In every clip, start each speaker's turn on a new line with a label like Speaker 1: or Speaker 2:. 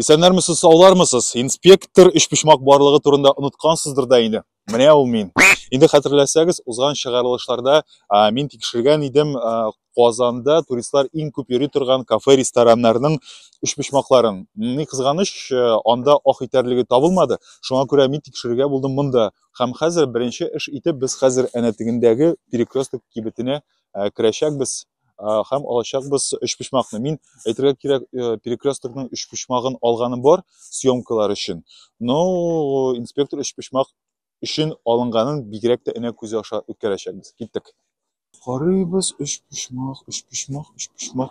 Speaker 1: Исәннәрмесез, саулармысыз? Инспектор өчпочмак барлыгы турында оныткансыздыр да инде. Менә ул мин. Инде хәтерләсәгез, узган чыгарылышларда мин тикшергән идем Казанда туристлар иң күп йөри торган кафе-рестораннарның өчпочмакларын. Ни кызганыч, анда ах итәрлеге табылмады. Шуңа күрә мин тикшерергә булдым монда. Һәм хәзер беренче эш итеп без хәзер әнә тегендәге перекресток кибетенә керәчәкбез. һәм алачакбыз өчпочмакны. Мин әйтергә кирәк, э, перекресткның өчпочмагын алганым бар съемкалар өчен. Но инспектор өчпочмак өчен алынганын бигрәк тә энә күзе аша үткәрәчәкбез. Киттек. Карыйбыз өчпочмак, өчпочмак, өчпочмак.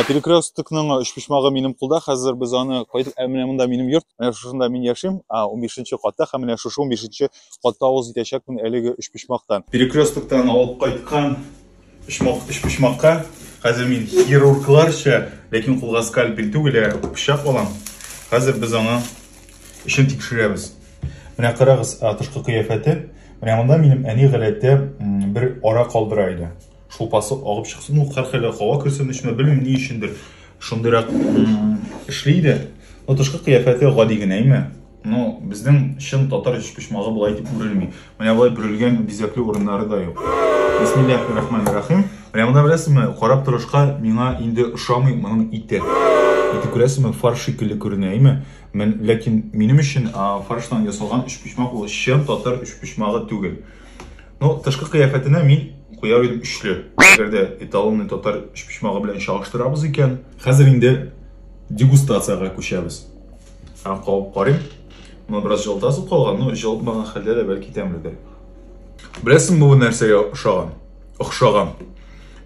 Speaker 1: перекресткның өчпочмагы минем кулда хәзер без аны кайтып ә менә монда минем йорт менә шушында мин яшим он бишенче катта һәм менә шушы он бишенче катта авыз итәчәкмен әлеге өчпочмактан перекресткадан алып кайткан Почмак, өч почмакка. Хәзер мин хирургларча, ләкин кулга скальпель түгел, ә пычак алам. Хәзер без аңа эшен тикшерәбез. Менә карагыз, тышкы кыяфәте. Менә монда минем әни галәттә бер ара калдыра иде. Шулпасы агып чыксын, ну, хәрхәлә һава керсен өчен, белмим ни өчендер. Шундыйрак эшли иде. Но тышкы кыяфәте гади генә име? Ну, безнең чын татар өчпочмагы болай дип үрелми. Менә болай бүрелгән бизәкле урыннары да юк. Бисмиллахи рахмани рахим. Менә монда беләсезме, карап торышка миңа инде ошамый моның ите. Ите күрәсезме, фарш шикелле күренә, әйме? Мен, ләкин минем өчен фарштан ясалган өчпочмак ул чын татар өчпочмагы түгел. Ну, тышкы кыяфәтенә мин куяр идем өчле. Әгәр дә эталонный татар өчпочмагы белән чагыштырабыз икән, хәзер инде дегустацияга күчәбез. Һәм кабып карыйм. Моны бераз җылытасы калган, но җылытмаган хәлдә дә бәлки тәмледер. Беләсең бу нәрсәгә ошаган? Охшаган.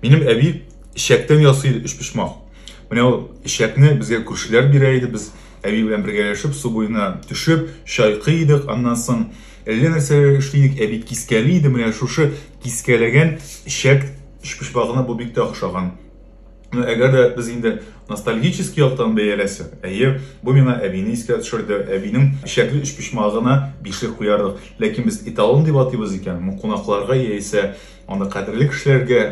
Speaker 1: Минем әби чәктән ясый иде өчпочмак. Менә ул чәкне безгә күршеләр бирә иде, без әби белән бергәләшеп су буена төшеп, чайкы идек, аннан соң әллә нәрсәләр эшли идек, әби кискәли иде, менә шушы кискәләгән чәк өчпочмагына бу бик тә охшаган. Ну, әгәр дә без инде ностальгический яктан бәяләсәк, әйе, бу миңа әбине искә төшерде. Әбинең эчәкле өчпочмагына бишлек куярдык. Ләкин без эталон дип атыйбыз икән, ну, кунакларга яисә аны кадерле кешеләргә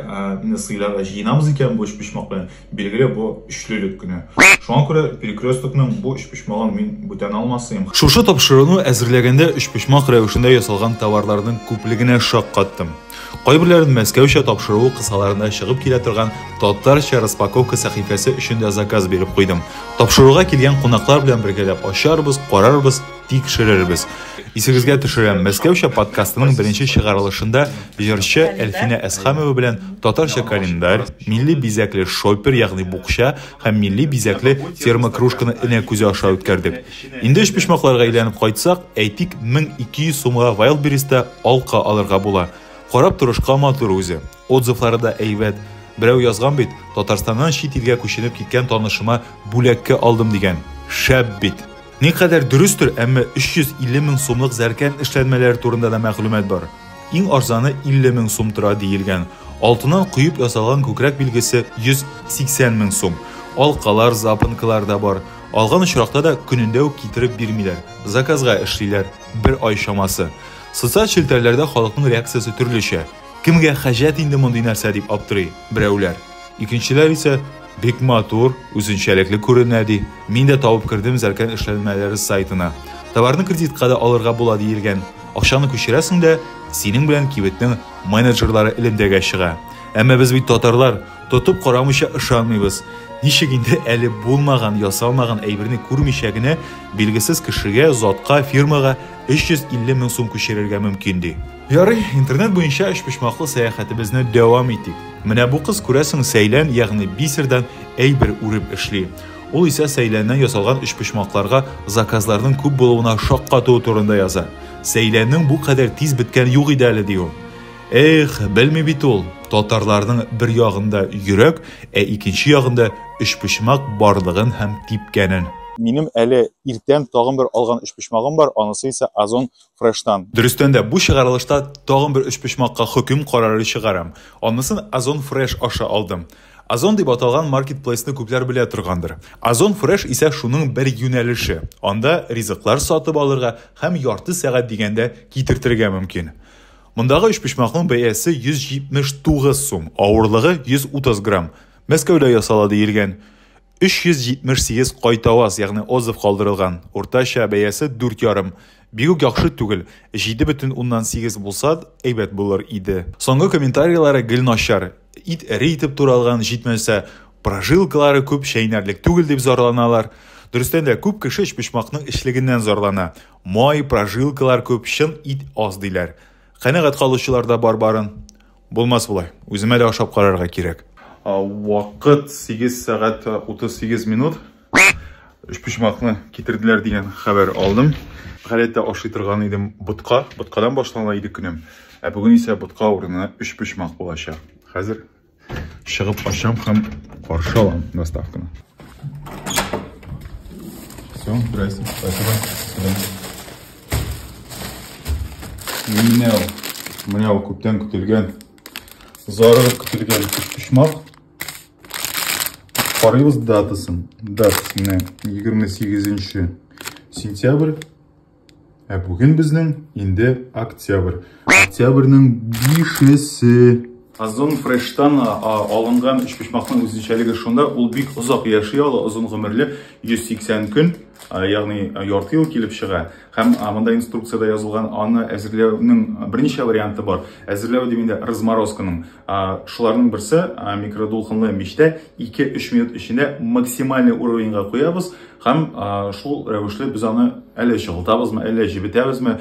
Speaker 1: инде сыйларга җыенабыз икән бу өчпочмак белән, билгеле, бу өчлелек кенә. Шуңа күрә перекресткның бу өчпочмагын мин бүтән алмасыйм. Шушы тапшыруны әзерләгәндә өчпочмак рәвешендә ясалган товарларның күплегенә шаккаттым. Кайберләрен Мәскәүчә тапшыру кысаларында чыгып килә торган татарча распаковка сәхифәсе өчен дә заказ биреп куйдым. Тапшыруга килгән кунаклар белән бергәләп ачарбыз, карарбыз, тикшерербез. Исегезгә төшерәм, Мәскәүчә подкастының беренче чыгарылышында җырчы Әлфинә Әсхамова белән татарча календарь, милли бизәкле шопер, ягъни букча, һәм милли бизәкле термокружканы энә күзе аша үткәрдек. Инде өчпочмакларга әйләнеп кайтсак, әйтик, 1200 сумга Wildberries-та алка алырга була. Карап торышка матур үзе. Отзывлары да әйбәт. Берәү язган бит, Татарстаннан чит илгә күченеп киткән танышыма бүләккә алдым дигән. Шәп бит! Никадәр дөрестер, әмма 350 мең сумлык зәркән эшләнмәләре турында да мәгълүмат бар. Иң арзаны 50 мең сум тора диелгән. Алтыннан куеп ясалган күкрәк билгесе 180 мең сум. Алкалар, запонкалар да бар. Алган очракта да көнендә үк китереп бирмиләр. Заказга эшлиләр. Бер ай чамасы. Социаль челтәрләрдә халыкның реакциясе төрлечә. Кемгә хаҗәт инде мондый нәрсә дип аптырый берәүләр. Икенчеләр исә Бик матур, үзенчәлекле күренә, ди. Мин дә табып кердем Зәркән эшләнмәләре сайтына. Товарны кредитка да алырга була диелгән. Акчаны күчерәсең дә, синең белән кибетнең менеджерлары элемтәгә чыга. Әмма без бит татарлар, тотып карамыйча ышанмыйбыз. Ничек инде әле булмаган, ясалмаган әйберне күрмичә генә билгесез кешегә, затка, фирмага 350 мең сум күчерергә мөмкин, ди. Ярый, интернет буенча өчпочмаклы сәяхәтебезне дәвам итик. Менә бу кыз күрәсең сәйлән, ягъни бисердән әйбер үреп эшли. Ул исә сәйләннән ясалган өчпочмакларга заказларның күп булуына шаккату турында яза. Сәйләннең бу кадәр тиз беткән юк иде әле, ди ул. Эх, белми бит ул. Татарларның бер ягында йөрәк, ә икенче ягында өчпочмак барлыгын һәм типкәнен. Минем әле иртән тагын бер алган өчпочмагым бар, анысы исә Озон фрештан. Дөрестән дә, бу чыгарылышта тагын бер өчпочмакка хөкем карары чыгарам. Анысын Озон Фреш аша алдым. Озон дип аталган маркетплейсны күпләр белә торгандыр. Озон Фреш исә шуның бер юнәлеше. Анда ризыклар сатып алырга һәм ярты сәгать дигәндә китертергә мөмкин. Мондагы өчпочмакның бәясе 179 сум, авырлыгы 130 грамм. Мәскәүдә ясала диелгән. 378 кайтаваз, ягъни отзыв калдырылган. Уртача бәясе 4 ярым. Бигүк яхшы түгел, 7,8 булса, әйбәт булыр иде. Соңгы комментарийлары гел начар. Ит эре итеп туралган, җитмәсә, прожилкалары күп, чәйнәрлек түгел дип зарланалар. Дөрестән дә, күп кеше өчпочмакның эчлегеннән зарлана. Май, прожилкалар күп, чын ит аз диләр. Канәгать калучылар да бар барын. Булмас болай. Үземә дә ашап карарга кирәк. Вакыт 8 сәгать 38 минут. Өчпочмакны китерделәр дигән хәбәр алдым. Галәттә ашый торган идем ботка. Боткадан башлана иде көнем. Ә бүген исә ботка урынына өчпочмак булачак. Хәзер чыгып ашам һәм каршы алам доставканы. Все, здрасте, спасибо. Менә ул. Менә ул күптән көтелгән. Зарыгып көтелгән почмак. Карыйбыз датасын. Дат менә 28 сентябрь. Ә бүген безнең инде октябрь. Октябрьнең 5-се. Озон фрештан алынган өчпочмакның үзенчәлеге шунда, ул бик озак яши ала, озын гомерле, 180 көн, ягъни ярты ел килеп чыга. Һәм монда инструкциядә язылган аны әзерләүнең берничә варианты бар. Әзерләү дим инде разморозканың. Шуларның берсе микродулкынлы мичтә 2-3 минут эчендә максимальный уровеньга куябыз һәм шул рәвешле без аны әле чыгылтабызмы, әле җебетәбезме,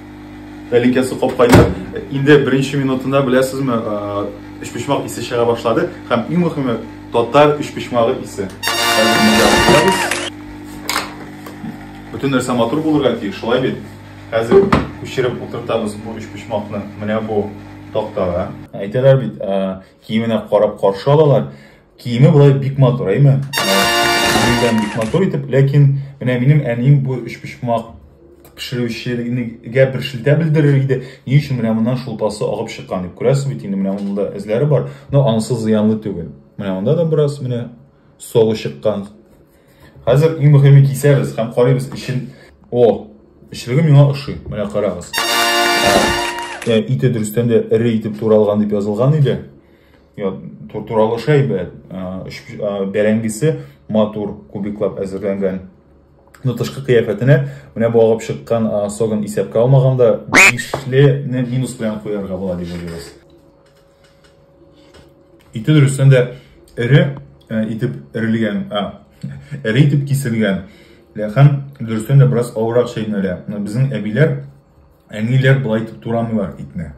Speaker 1: Тәлинкәсе капкайда. Инде беренче минутында беләсезме, өчпочмак исе чыга башлады һәм иң мөһиме татар өчпочмагы исе. Бөтен нәрсә матур булырга тиеш, шулай бит? Хәзер күчереп утыртабыз бу өчпочмакны. Менә бу тактага. Әйтәләр бит, киеменә карап каршы алалар. Киеме болай бик матур, әйме? Гүлдән бик матур итеп, ләкин менә минем әнием бу өчпочмак пешерүчелегенә бер шелтә белдерер иде. Ни өчен менә моннан шулпасы агып чыккан дип күрәсез бит, инде менә монда эзләре бар. Но анысы зыянлы түгел. Менә монда да бераз менә согы чыккан. Хәзер иң мөһиме кисәбез һәм карыйбыз ичин. О, эчлеге миңа ошый. Менә карагыз. Ә, ите дөрестән дә эре итеп туралган дип язылган иде. туралы шәйбәт бәрәңгесе матур кубиклап әзерләнгән ну тышкы кыяфәтенә менә бу агып чыккан согын исәпкә алмаганда бишлене минус белән куярга була дип уйлыйбыз ите дөрестән дә эре итеп эрелгән эре итеп киселгән ләхәм дөрестән дә бераз авыррак чәйнәлә безнең әбиләр әниләр болай итеп турамыйлар итне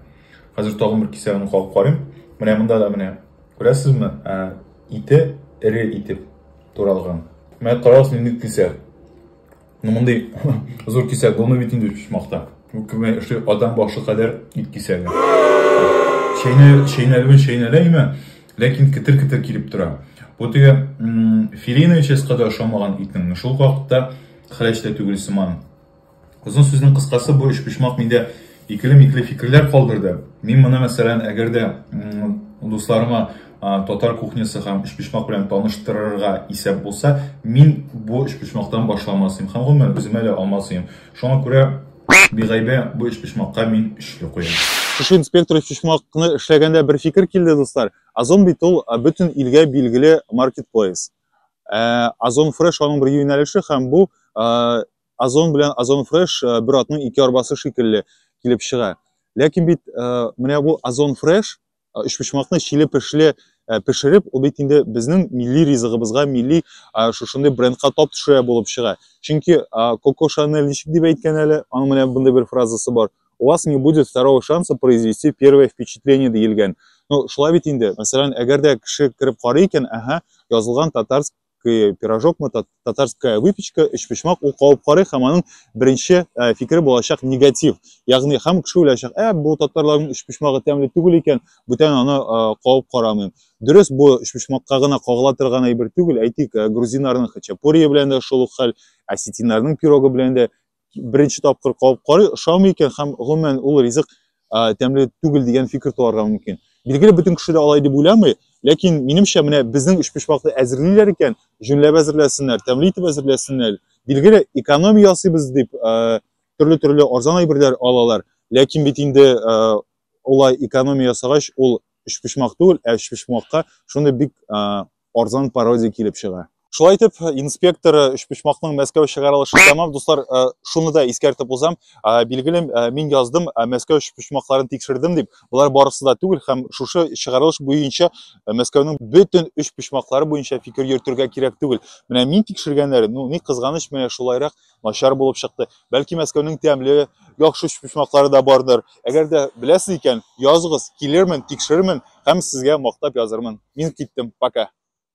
Speaker 1: Хәзер тагын бер кисәген кагып карыйм. Менә монда да менә күрәсезме? Ә, ите эре итеп туралган. Менә карагыз нинди кисәк. Ну мондый зур кисәк булмый бит инде пичмакта. Бу кеме эшли адам башы кадәр ит кисәге. Чәйнәл чәйнәлүен чәйнәләйме? Ләкин китер-китер килеп тора. Бу теге филейная частька да ошамаган итнең шул вакытта хәләч тә түгел сыман. Озын сүзнең кыскасы бу өчпочмак миндә икеле-микле фикерләр калдырды. Мин моны, мәсәлән, әгәр дә дусларыма татар кухнясы һәм өчпочмак белән таныштырырга исәп булса, мин бу өчпочмактан башламас идем һәм гомумән үземә дә алмас идем. Шуңа күрә бигайбә бу өчпочмакка мин өчле куям. Шушы инспектор өчпочмакны эшләгәндә бер фикер килде, дуслар. Озон бит ул бөтен илгә билгеле маркетплейс. Озон фреш аның бер юнәлеше һәм бу Озон белән Озон Fresh э, бер атның ике арбасы шикелле килеп чыга. Ләкин бит э, менә бу Озон Fresh э, өчпочмакны чиле пешле пешереп, ул бит инде безнең милли ризыгыбызга, милли шушындый брендка тап төшерә булып чыга. Чөнки Коко Шанель ничек дип әйткән әле, аның менә бундай бер фразасы бар. У вас не будет второго шанса произвести первое впечатление диелгән. Ну, шулай бит инде. Мәсәлән, әгәр дә кеше кереп карый икән, ага, язылган татарск татарский пирожок мы татарская выпечка өч почмак ул кабып карый һәм аның беренче э, фикере булачак негатив ягъни һәм кеше уйлаячак ә бу татарларның өч почмагы тәмле түгел икән бүтән аны э, кабып карамыйм дөрес бу өч почмакка гына кагыла торган әйбер түгел әйтик э, грузиннарның хачапурие белән дә шул ук хәл осетиннарның пирогы белән дә беренче тапкыр кабып карый, ошамый икән һәм гомумән ул ризык тәмле түгел дигән фикер туарга мөмкин. Билгеле бөтен кеше дә алай дип уйламый, ләкин минемчә менә безнең өчпочмакны әзерлиләр икән, җүнләп әзерләсеннәр, тәмле итеп әзерләсеннәр. Билгеле экономия ясыйбыз дип төрле-төрле арзан әйберләр алалар, ләкин бит инде улай экономия ясагач ул өчпочмак түгел, ә өчпочмакка шундый бик арзан пародия килеп чыга. Шулай итеп, инспектор Өчпочмакның Мәскәү чыгарылышы тәмам. Дуслар, э, шуны да искәртеп узам. Э, билгеле, э, мин яздым, Мәскәү Өчпочмакларын тикшердем дип. Болар барысы да түгел һәм шушы чыгарылыш буенча Мәскәүнең бөтен Өчпочмаклары буенча фикер йөртергә кирәк түгел. Менә мин тикшергәннәре, ну, ни кызганыч, менә шулайрак начар булып чыкты. Бәлки Мәскәүнең тәмле, яхшы почмаклары да бардыр. Әгәр дә беләсез икән, языгыз, килермен, тикшерермен һәм сезгә мактап язырмын. Мин киттем, пока.